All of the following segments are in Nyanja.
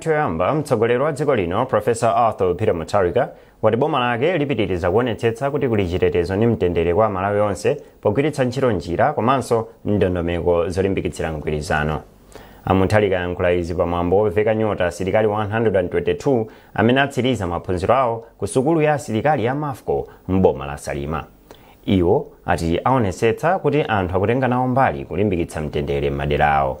choyamba mtsogoleri wa dziko lino profesa arthur peter mutharika wati boma lake lipitiriza kuonetsetsa kuti kuli chitetezo ndi mtendere kwa amalawi onse pogwiritsa ntchito njira komanso ndondomeko zolimbikitsira mgwirizano amutharika ayankhula izi pamwambo woveka nyota asilikali 122 amene atsiriza maphunziro awo ku sukulu ya asilikali ya mafco m'boma la salima iwo ati aonetsetsa kuti anthu akutenga nawo mbali kulimbikitsa mtendere m'madera awo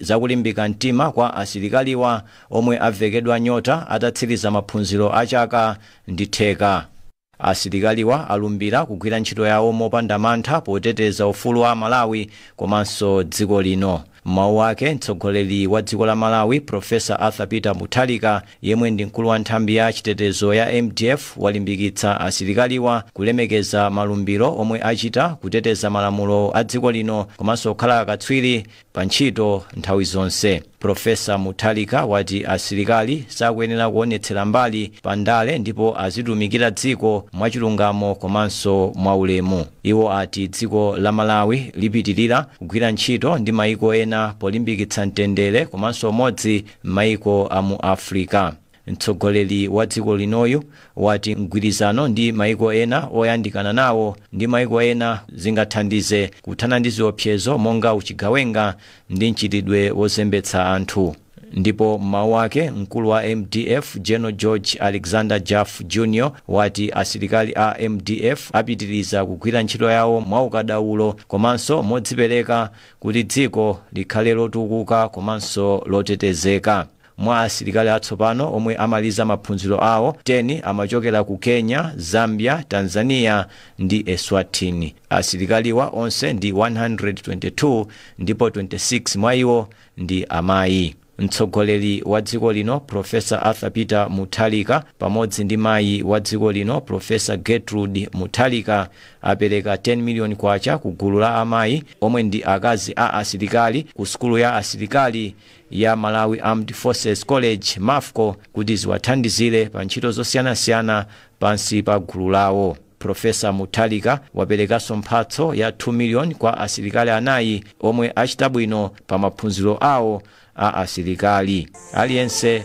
za kulimbika mtima kwa asilikaliwa omwe avekedwa nyota atatsiliza maphunziro a chaka ndi theka. Asilikaliwa alumbira kugwira ntchito yawo mopanda mantha poteteza ufulu wa aMalawi komanso dziko lino. M'mawu ake, mtsogoleri wa dziko la Malawi, Professor Arthur Peter Mutharika, yemwe ndi mkulu wa nthambi ya chitetezo ya mdf, walimbikitsa asilikaliwa kulemekeza malumbiro omwe achita, kuteteza malamulo a dziko lino komanso kukhala akatswiri pantchito nthawi zonse. Professor Mutharika wati asilikali sakuyenera kuonetsera mbali pa ndale ndipo azitumikira dziko mwachilungamo komanso mwaulemu. Iwo ati dziko la Malawi lipitilira kugwira ntchito ndi maiko ena polimbikitsa mtendere komanso umodzi m'maiko a mu Africa. Mtsogoleri wa dziko linoyu wati mgwirizano ndi maiko ena oyandikana nawo ndi maiko ena zingathandize kuthana ndi ziopsezo monga uchigawenga ndi mchitidwe wozembetsa anthu. Ndipo m'mawu ake, mkulu wa mdf General George Alexander Jaffu Junior wati asilikali a mdf apitiliza kugwira ntchito yawo mwaukadaulo komanso modzipereka kuti dziko likhale lotukuka komanso lotetezeka. Mwa asilikali atsopano omwe amaliza maphunziro awo, 10 amachokera ku Kenya, Zambia, Tanzania ndi Eswatini. Asilikaliwa onse ndi 122 ndipo 26 mwa iwo ndi amayi. Mtsogoleri wa dziko lino Professor Arthur Peter Mutharika pamodzi ndi mayi wa dziko lino Professor Gertrude Mutharika apereka 10 million kwacha ku gulu la amayi omwe ndi akazi a asilikali ku sukulu ya asilikali ya Malawi Armed Forces College, mafco, kuti ziwathandizire pa ntchito zosiyanasiyana pansi pa gulu lawo. Professor Mutharika waperekanso mphatso ya 2 million kwa asilikali anayi omwe achita bwino pa maphunziro awo a asilikali. Aliyense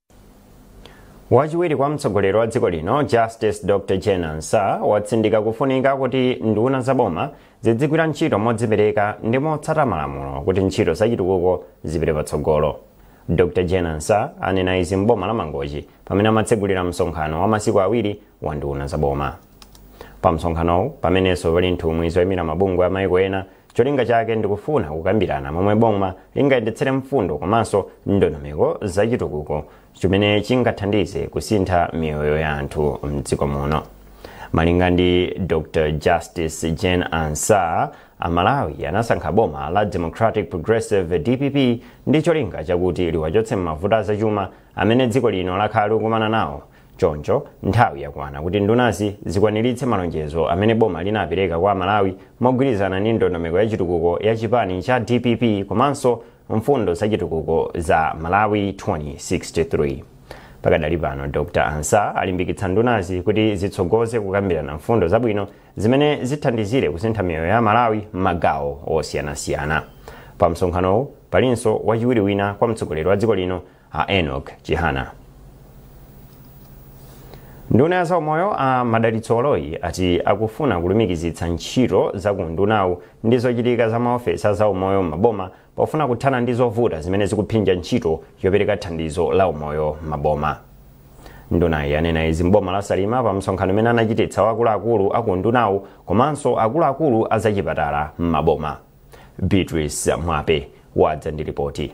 wachiwiri kwa mtsogoleri wa dziko lino justice dr jane ansah watsindika kufunika kuti nduna za boma zidzigwira ntchito modzipereka ndi motsata malamulo kuti ntchito zachitukuko zipite patsogolo dr jane ansah anena izi m'boma la mangochi pamene amatsegulira msonkhano wa masiku awiri wa nduna za boma pa msonkhanowu pamenenso pali nthumwi zoyimira mabungwe a maiko ena Cholinga chake ndikufuna kukambirana momwe boma lingayendetsere mfundo komanso ndondomeko za chitukuko chimene chingathandize kusintha miyoyo ya anthu mdziko muno. Malinga ndi Dr. Justice Jane Ansah, Amalawi anasankha boma la Democratic Progressive DPP ndi cholinga chakuti liwachotse m'mavuto azachuma amene dziko lino lakhala likukumana nawo Choncho, nthawi yakwana kuti ndunazi zikwaniritse malonjezo amene boma linapereka kwa Amalawi mogwirizana ndi ndondomeko ya chitukuko ya chipani cha dpp komanso mfundo za chitukuko za Malawi 2063. Pakadali pano, Dr. Ansah alimbikitsa ndunazi kuti zitsogoze kukambirana mfundo zabwino zimene zithandizire kusintha miyoyo ya Amalawi m'magawo osiyanasiyana. Pa msonkhanowu palinso wachiwiri wina kwa mtsogoleri wa dziko lino a Enoch Chihana. Nduna ya zaumoyo a Madalitso Baloyi ati akufuna kulumikizitsa ntchito za ku undunawu ndi zochitika za maofesi a zaumoyo m'maboma pofuna kuthana ndi zovuta zimene zikuphinja ntchito yopereka thandizo la umoyo m'maboma. Ndunayi yanena izi m'boma la Salima pa msonkhano umene anachititsa wa akuluakulu a ku undunawu komanso akuluakulu a zachipatala m'maboma. Beatrice Mwape wadza ndi ripoti.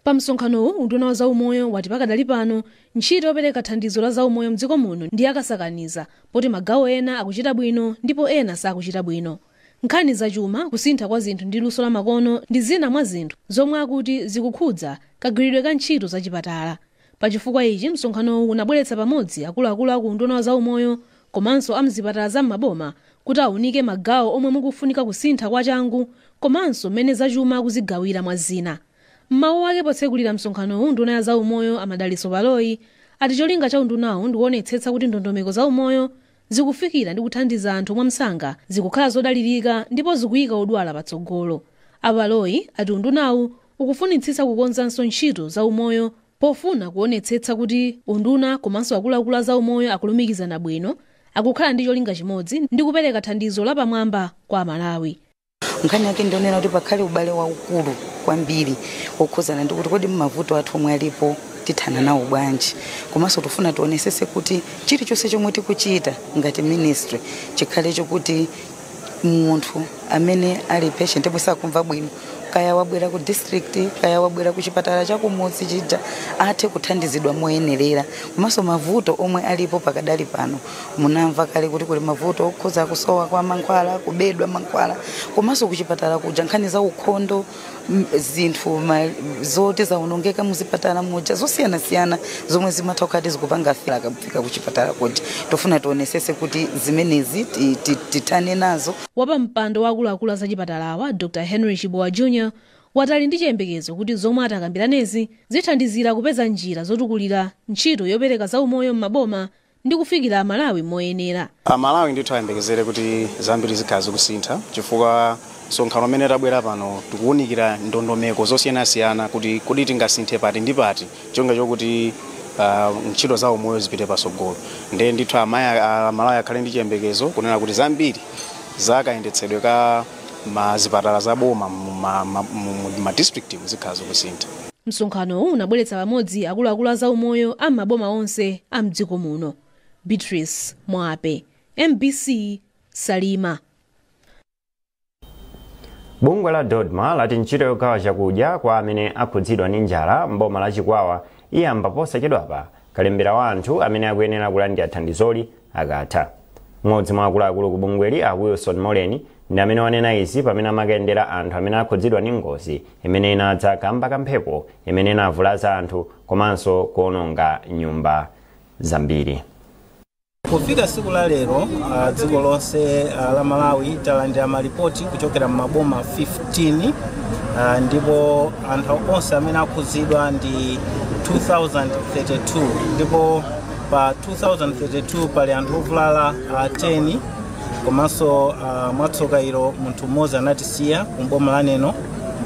Pa msonkhanowu, unduna wa zaumoyo wati pakadali pano ntchito yopereka thandizo la zaumoyo mdziko muno ndi yakasakaniza poti magawo ena akuchita bwino ndipo ena sakuchita bwino. Nkhani za chuma, kusintha kwa zinthu ndi luso la makono ndi zina mwa zinthu zomwe akuti zikukhudza kagwiridwe ka ntchito za chipatala. Pa chifukwa ichi, msonkhanowu unabweretsa pamodzi akuluakulu a ku Unduna wa Zaumoyo komanso a m'zipatala za m'maboma kuti aunike magawo omwe mukufunika kusintha kwa changu komanso m'mene zachuma akuzigawira mwa zina. M'mawu ake potsekulira msonkhanowu nduna ya zaumoyo a Madalitso Baloyi ati cholinga cha undunawu ndikuonetsetsa kuti ndondomeko zaumoyo zikufikira ndi kuthandiza anthu mwamsanga, zikukhala zodalirika ndipo zikuika odwala patsogolo. A Baloyi ati undunawu ukufunitsitsa kukonzanso ntchito za umoyo pofuna kuonetsetsa kuti unduna komanso akuluakulu a zaumoyo akulumikizana bwino, akukhala ndi cholinga chimodzi ndi kupereka thandizo lapamwamba kwa Amalawi. Nkhani yake ndi yonena kuti pakhale ubale waukulu kwambiri wokhudzana ndi kuti kodi mavuto athu omwe alipo tithana nawo bwanji, komanso tikufuna tionetsetse kuti chilichonse chomwe tikuchita ngati ministry chikhale chokuti munthu amene ali patient omwe sakumva bwino kaya wabwera ku district kaya wabwera ku chipatala cha kumudzi chija athe kuthandizidwa moyenerera komanso mavuto omwe alipo pakadali pano munamva kale kuti kuli mavuto okhuza kusowa kwa mankhwala kubedwa mankhwala komanso ku chipatala kuja nkhani za ukhondo m- zinthu ma- zoti zaonongeka muzipatala muja zosiyanasiyana zomwe zimatha kukhala zikupanga fail akafika kuchipatala kuti tofuna tionesese kuti zimenezi ti- ti- tithane nazo wapampando wa akuluakulu a zachipatalawa dr henry chibowa jr wati ali ndi chiyembekezo kuti zomwe atakambiranezi zithandizira kupeza njira zotukulira ntchito yopereka zaumoyo m'maboma ndi kufikira Amalawi moyenera. Amalawi ndithu ayembekezere kuti zambiri zikhala zikusintha chifukwa msonkhano umene tabwera pano tikuwunikira ndondomeko zosiyanasiyana kuti kodi tingasinthe pati ndi pati cholinga chokuti ah, ntchito za umoyo zipite patsogolo ndiye ndithu amaya- ah, amalawi akhale ndi chiyembekezo kunena kuti zambiri za kayendetsedwe ka ma zipatala za boma mu ma- ma- mu- mu- ma district mu zikhala zikusintha msonkhanowu unabweretsa pamodzi akuluakulu a zaumoyo a m'maboma onse a mdziko muno beatrice mwape mbc salima bungwe la dodma lati ntchito yogawa chakudya kwa amene akhudzidwa ndi njala mboma la chikwawa iyamba posachedwapa Kalembera wa anthu amene akuyenera kulandira thandizoli akatha. M'modzi mwa akuluakulu ku bungweli a Wilson Moleni ndi amene wanena izi pamene amakayendera anthu amene akhudzidwa ndi ngozi imene inadza kamba ka mphepo imene inavulaza anthu komanso kuononga nyumba zambiri. Kufika siku la lero uh, dziko lonse uh, la Malawi talandira malipoti kuchokera m'maboma 15 uh, ndipo anthu onse amene akhudzidwa ndi 2032 ndipo pa 2032 pali anthu ovulala uh, 10 komanso uh, mwatsoka ilo munthu mmodzi anatisiya kumboma la neno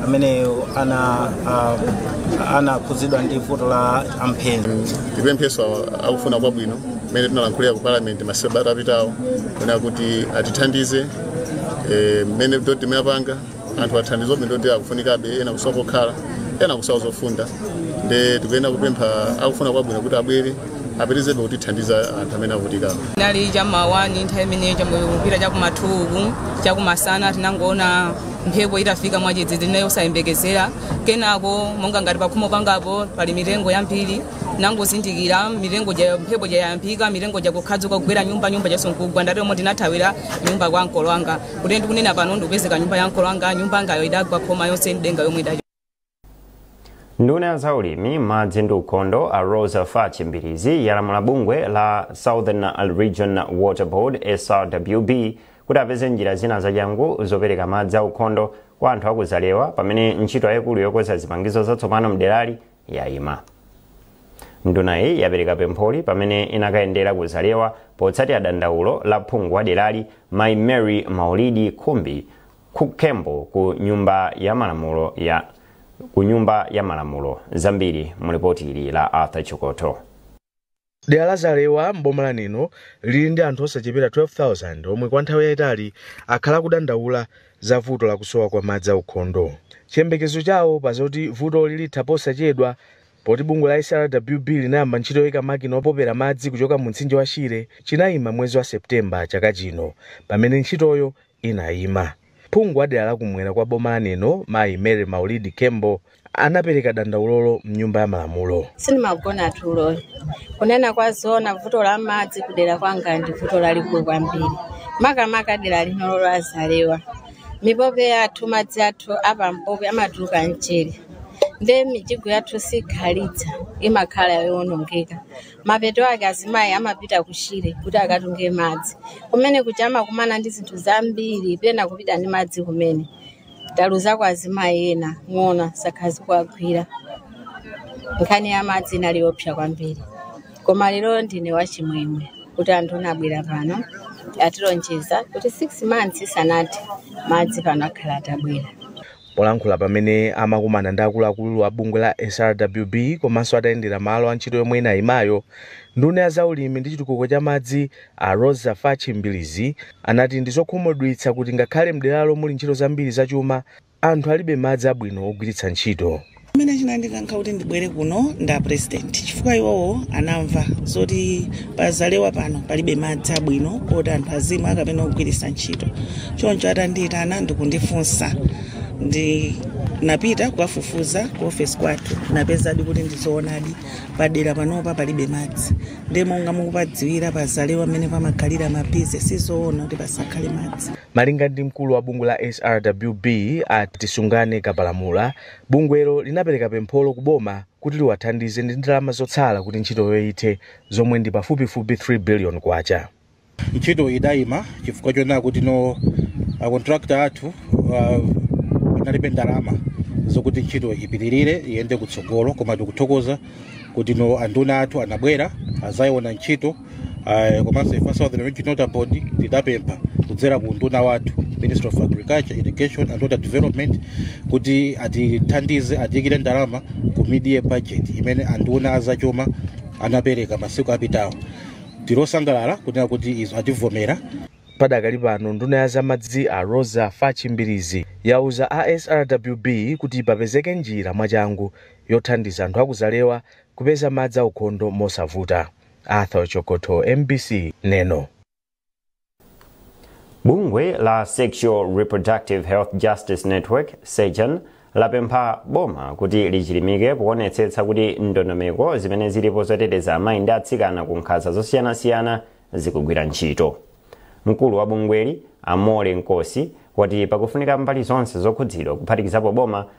ameneyo ana uh, anakhudzidwa ndi vuto la mphenzi tipempheso awa- akufuna kwabwino mmene tinalankhulira ku parliament masabata apitawo kunena kuti atithandize eh, mmene dodma imapangira anthu a thandizo ndi akufunikabe ena kusowa kokhala ena kusowa zofunda nde tikuyenera kupempha akufuna kwabwino kuti abwere apitizebe kutithandiza anthu amene avutikawa inali chamawani nthawi imeneyo yakupita chakumatuku chakumasana tinangoona mphepo itafika mwadzidzidzi mosayembekezera kenako monga ngati pakhomo pangapo pali mitengo yambiri nangozindikira mitengo ja mphepo jayambika mitengo ija kukhadzuka kugwera nyumba nyumba ija kusasuka ndiyeno ndinathawira nyumba kwa makolo anga kuti ndikunena pano ndikupezeka nyumba ya makolo angayo nyumba yangayo idagwa khoma yonse ndi denga yomwe idali nduna ya zaulimi madzi ndi ukhondo a rosa fachi mbirizi yalamula bungwe la southern region water board srwb kuti apeze njira zina zachangu zopereka madzi a ukhondo kwa anthu akuzalewa pamene ntchito yayikulu yokonza zipangizo zatsopano mderali yaima ndunayi yapereka pempholi pamene inakayendera ku zalewa potsatira dandaulo la phungu wa derali mai mary maulidi khembo ku nyumba ya malamulo zambiri mu lipoti ili la arthur chikoto Dera la Zalewa m'boma la Neno lili ndi anthu osachepera 12,000 omwe kwa nthawi yaitali akhala akudandaula za vuto la kusowa kwa madzi aukhondo. Chiyembekezo chawo pa zoti vutoli litha posachedwa poti bungwe la SRWB linayamba ntchito yoika makina opopera madzi kuchoka mumtsinje wa Shire chinaima mwezi wa September chaka chino pamene ntchitoyo inaima. Phungu wa dera la kumwera kwa boma la Neno mayi Mary Maulidi Khembo anapereka dandaulolo mnyumba ya malamulo. sindimagona tulo kunena kwa zoona vuto la madzi kudera kwanga ndi vuto lalikulu kwambiri makamaka dera linolo la zalewa mipope yathu madzi athu apampope amatuluka amchere ndiye mijigo yathu sikhalitsa imakhala yowonongeka Mapeto ake azimayi amapita ku Shire kuti akatunge madzi. Kumene kuja amakumana ndi zinthu zambiri, pena kupita ndi madzi kumene. Taluzako azimayi ena, ng'ona zakhala zikuwagwira. Nkhani ya madzi inali yoopsa kwambiri. Koma lero ndine wachimwemwe kuti anthu abwera pano atilonjeza kuti 6 months isanathe madzi pano akhala atabwera. Polankhula pamene amakumana ndi akuluakulu a bungwe la SRWB komanso atayendera malo a ntchito yomwe inayimayo, nduna ya za ulimi ndi chitukuko cha madzi a Roza Fatch Mbilizi anati ndi zokhumudwitsa kuti ngakhale mderalo muli ntchito zambiri za chuma, anthu alibe madzi abwino ogwiritsa ntchito. chimene chinandikankha kuti ndibwere kuno ndi apresident chifukwa iwowo anamva zoti pazalewa pano palibe madzi abwino oti anthu azimwa kapena kugwiritsa ntchito choncho atandiyitana ndikundifunsa ndinapita kukafufuza ku ofesi kwathu napezadi kuti ndizoonadi padera panopa palibe madzi ndi monga mukupadziwira pazalewa mmene pamakhalira mabizinesi sizoona kuti pasakhale madzi malinga ndi mkulu wa bungwe la srwb a tisungane kapalamula Bungwelo linapereka pempholo ku boma kuti liwathandize ndi ndalama zotsala kuti ntchitoyo ithe zomwe ndi pafupifupi K3 billion. Ntchito idayima chifukwa chonena kuti a contractor athu analibe ndalama zokuti ntchito ipitilire iyende kutsogolo koma tikuthokoza kuti anduna athu anabwera azayiona ntchito. Ah, komanso ife a southern region water board tidapempha kudzera ku unduna wathu ministry of agriculture irrigation and water development kuti atithandize atiyikire ndalama ku mid-year budget imene anduna azachuma anapereka masiku apitawo tili osangalala kunena kuti izo ativomera. Padakali pano nduna ya zamadzi a Roza Fatch Mbilizi yauza a SRWB kuti papezeke njira mwachangu yothandiza anthu a ku Zalewa kupeza madzi aukhondo mosavuta Arthur Chokotho, mbc, Neno. Bungwe la Sexual Reproductive Health Justice Network, SEJAN, lapempha boma kuti lichilimike poonetsetsa kuti ndondomeko zimene zilipo zoteteza amayi ndi atsikana ku nkhanza zosiyanasiyana zikugwira ntchito. Mkulu wa bungweli, a Molly Nkosi, wati pakufunika mbali zonse zokhudzidwa kuphatikizapo boma